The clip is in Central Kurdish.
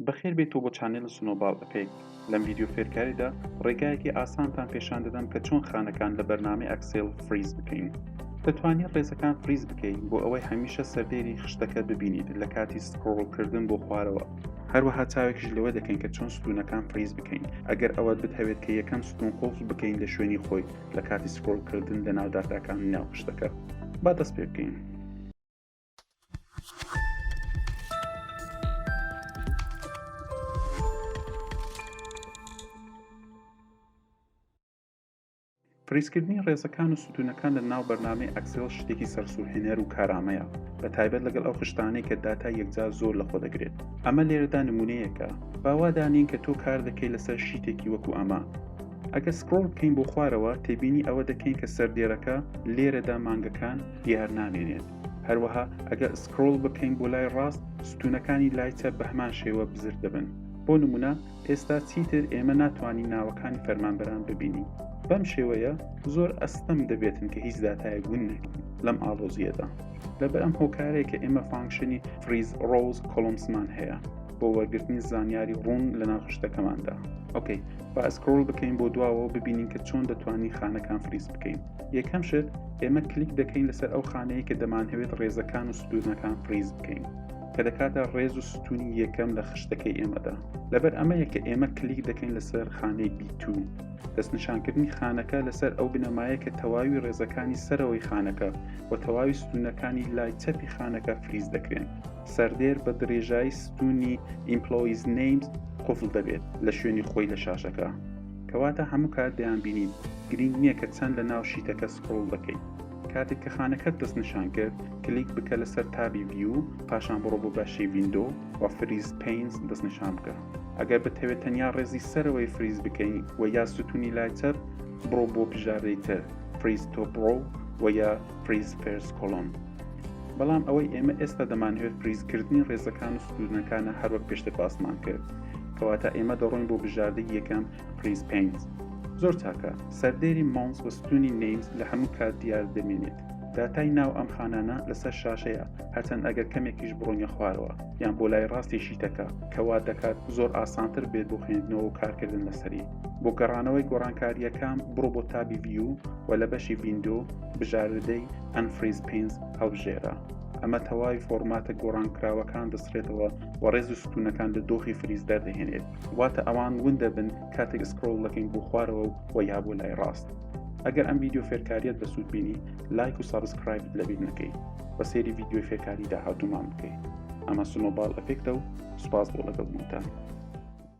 بەخێر بێیتەوە بۆ چانێل سنۆباڵ ئەفێکت لەم ڤیدیۆ فێرکاریدا ڕێگایەکی ئاسانتان پێشان دەدەم کە چۆن خانەکان لە بەرنامەی ئەکسێل فریز بکەین دەتوانی ڕێزەکان فریز بکەی بۆ ئەوەی هەمیشە سەردێری خشتەکە ببینیت لە کاتی سکرۆڵ کردن بۆ خوارەوە هەروەها چاوێکیش لەوە دەکەین کە چۆن ستونەکان فریز بکەین ئەگەر ئەوەت بتهەوێت کە یەکەم ستون قوڵف بکەین لە شوێنی خۆی لە کاتی سکرۆڵ کردن لەناو داتاکان ناو خشتەکە با دەست پێ بکەین. پریسکردنی ڕێزەکان و ستونەکان لە ناو بەرنامەی ئەکسێڵ شتێکی سەرسوورهێنەر و کارامەیە بە تایبەت لەگەڵ ئەو خشتانەی کە داتا یەکجار زۆر لە خۆ دەگرێت ئەمە لێرەدا نمونەیەکە باوادانین کە تۆ کار دەکەی لەسەر شیتێکی وەکو ئەمە ئەگەر سکرۆڵ بکەین بۆ خوارەوە تێبینی ئەوە دەکەین کە سەردێرەکە لێرەدا مانگەکان دیار نامێنێت هەروەها ئەگەر سکرۆڵ بکەین بۆ لای ڕاست ستونەکانی لای چەپ بە هەمان شێوە بزر دەبن بۆ نمونە ئێستا چیتر ئێمە ناتوانین ناوەکانی فەرمانبەران ببینین بەم شێوەیە زۆر ئەستەم دەبێتن کە هیچ داتایەک ون نەکەین لەم ئاڵۆزیەدا لەبەر ئەم هۆکارەیە کە ئێمە فانکشنی فریز ڕۆز کۆلمسمان هەیە بۆ وەرگرتنی زانیاری ڕوون لە ناوخشتەکەماندا ئۆکەی با ئەسکرۆل بکەین بۆ دواوە ببینین کە چۆن دەتوانین خانەکان فریز بکەین یەکەم شت ئێمە کلیک دەکەین لەسەر ئەو خانەیە کە دەمانهەوێت ڕێزەکان و ستونەکان فریز بکەین کە دەکاتە ڕێز و ستونی یەکەم لە خشتەکەی ئێمەدا لەبەر ئەمەیە کە ئێمە کلیک دەکەین لەسەر خانەی بیتو دەستنیشانکردنی خانەکە لەسەر ئەو بنەمایە کە تەواوی ڕێزەکانی سەرەوەی خانەکە و تەواوی ستونەکانی لای چەپی خانەکە فریز دەکرێن سەردێر بە درێژایی ستونی ئیمپلۆیز نیمز قفل دەبێت لە شوێنی خۆی لە شاشەکە کەواتە هەموو کات دەیانبینین، گرینگ نییە کە چەند لە ناو شیتەکە سکرۆڵ دەکەیت. کاتێک کە خانەکەت دەست نیشان کرد، کلیک بکە لەسەر تابی View، پاشان بڕۆ بۆ بەشی Window و Freeze Panes دەست نیشان بکە. ئەگەر بتهەوێت تەنیا ڕێزی سەرەوەی فریز بکەی و یا ستونی لای چەپ، بڕۆ بۆ بژاردەی تر، Freeze Top Row و یا Freeze First Column. بەڵام ئەوەی ئێمە ئێستا دەمانەوێت فریزکردنی ڕێزەکان و سنوورنەکانە هەروەک پێشتر باسمان کرد کەواتە ئێمە دەڕۆین بۆ بژاردەی یەکەم فریز پینت زۆر چاکە سەردێری ماونس و ستونی نەیمز لە هەموو کات دیار دەمێنێت داتای ناو ئەم خانانە لەسەر شاشەیە هەرچەند ئەگەر کەمێکیش بڕۆنیە خوارەوە یان بۆ لای ڕاستی شیتەکە کەوا دەکات زۆر ئاسانتر بێت بۆ خوێندنەوە و کارکردن لەسەری بۆ گەڕانەوەی گۆڕانکاریەکان بڕۆ بۆ تابی ڤیو و لە بەشی ڤیندۆ بژاردەی ئەنفریز پینز هەڵبژێرە. ئەمە تەواوی فۆرماتە گۆڕانکراوەکان دەسرێتەوە و ڕێز و ستونەکان لە دۆخی فریز دەردەهێنێت واتە ئەوان ون دەبن کاتێک سکرۆڵ دەکەین بۆ خوارەوە و یا بۆ لای ڕاست ئەگەر ئەم ویددیو فێرکاریت بە سوود بینی لایک و سابسکرایبت لەبییر نەکەی بە سێری ویددیوی فێرکاری داهاتومان بکەیت ئەمە سنۆبال ئەفێکتە و سوپاس بۆ لەگەڵ بوونتان.